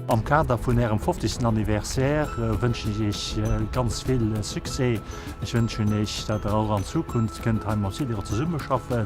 Am Kader vun Ärem 50. Anniversaire wënschen ech Iech ganz vill Succès. Ech wënschen Iech, dat Der och an Zukunft kënnt hei mat Sidero zesummeschaffen.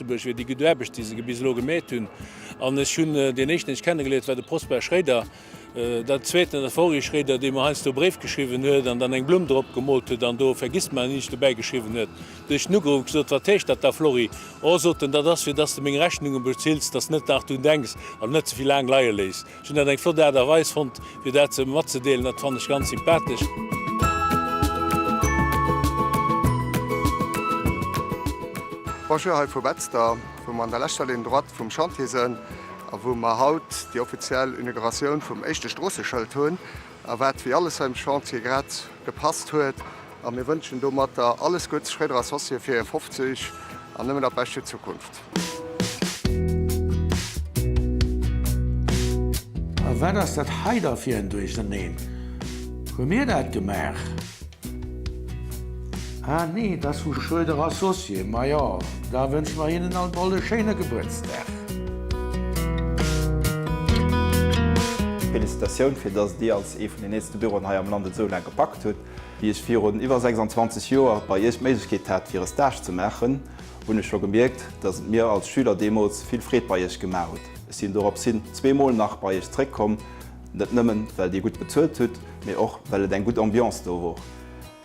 Lëtzebuerg wier déi gutt Aarbecht, déi se bis elo gemeet hunn. An ech hunn deen Éischten, deen ech kennegeléiert, war de Prosper Schréder. Dat Zweeten ass Henri Schréder, dee mer heiansdo Bréif geschriwwen huet an dann eng Blumm drop gemoolt huet an do Vergiss mei nicht dobäi geschriwwen huet. Dunn hu ech en ugeruff a gesot, Wat heescht dat da, Florry? O, sot en, dat ass, fir dass de meng Rechnunge bezills, dass de net nach drun denks an net ze vill laang leie léiss. Ech hunn dat eng flott Aart a Weis fonnt, fir dat ze matzedeelen. Dat fannen ech ganz sympathesch. Bonjour hei vu Betzder, wou mer an der leschter Ligne droite vum Chantier sënn a wou mer haut déi offiziell Inauguratioun vum éischte Stroosseschëld hunn a wat wéi alles hei um Chantier grad gepasst huet. A mir wënschen domatter alles Gudds Schréder Associé fir hir 50 an nëmmen dat Bescht fir d'Zukunft. A wat ass dat hei da fir en Duercherneen? Hu mir dat gemaach? Ah nee, dat ass vu Schröder Associé. Majo, da wënsche mer hinnen alt mol e schéine Gebuertsdag. Félicitatioun, fir dass Dir als ee vun den eelste Büroen hei am Land et esou laang gepackt hutt. Wéi ech virun iwwer 26 Joer bei Iech d'Méiglechkeet hat, fir e Stage ze maachen, hunn ech scho gemierkt, dass et mir als Schüler deemools vill Freed bei Iech gemaach hutt. Ech sinn dorops hin zwee Mol nach bei Iech zréck komm, net nëmmen, well Dir gutt bezuelt hutt, mee och, well et eng gutt Ambiance do wor.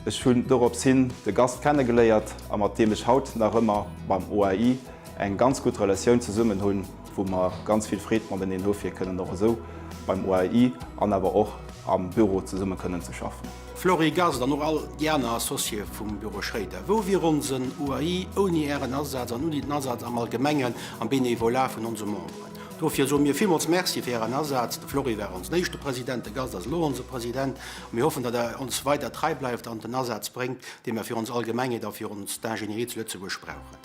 Ech hunn dorops hin de Gast kenne geléiert a mat deem ech haut nach ëmmer beim OAI eng ganz gutt Relatioun zesummen hunn, wou mer ganz vill Freed mateneen hu fir kënnen och esou beim OAI an awer och am Büro zesumme kënnen ze schaffen. Flory Gast an och all déi aner Associéë vum Büro Schroeder, wou wier onsen UAI ouni ären Asaz an ouni den Asaz am Allgemengen am Bénévolat vun onse Memberen? Dofir soe mir villmools Merci fir ären Asaz. De Flory war onsen éischte President, de Gast ass elo onse President a mir hoffen, datt der ons weider trei bleift an den Asaz bréngt, dee mer fir ons Allgemengeet a fir ons d'Ingénierie zu Lëtzebuerg brauchen.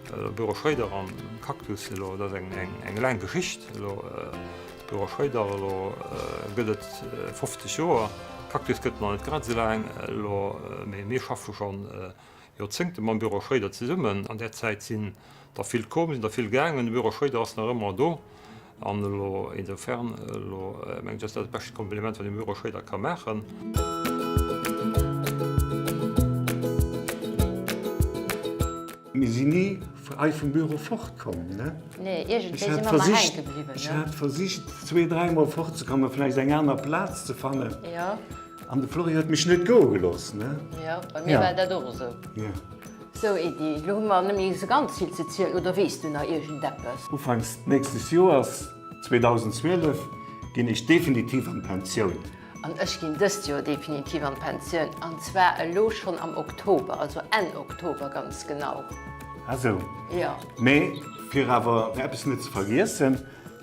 Büro Schröder an Cactus, elo dat ass eng eng laang Geschicht. Elo Büro Schröder, elo gëtt et 50 Joer. Cactus gëtt nach net grad esou laang, elo mee mir schaffe scho Joerzéngte mam Büro Schröder zesummen. An där Zäit sinn der vill komm, sinn der vill gaangen. De Büro Schröder ass nach ëmmer do. An elo insofern, elo mengen ech, ass dat dat bescht Kompliment, wat een dem Euro Schroeder ka maachen. Mir sinn ni hei vum Büro fort komm, ne? Nee, iergendwéi si mer ëmmer hänke bliwwen, ne? Ech hat versicht, zwee-, dräimol fort ze kommen, vläicht eng aner Plaz ze fannen. Jo. An de Flori huet mech net goe gelooss, ne? Jo, bei mir war dat och esou. Jo. Sou Edy, elo hu mer nemmi sou ganz vill ze zielen, oder weess du nach iergend eppes? Ufanks nächstes Joers, 2012, ginn ech definitiv an d'Pensioun. An ech ginn dëst Joer definitiv an d'Pensioun, an zwar elo schonn am Oktober, also Enn Oktober ganz genau. Ah sou. Jo. Mee fir awer eppes net ze vergiessen,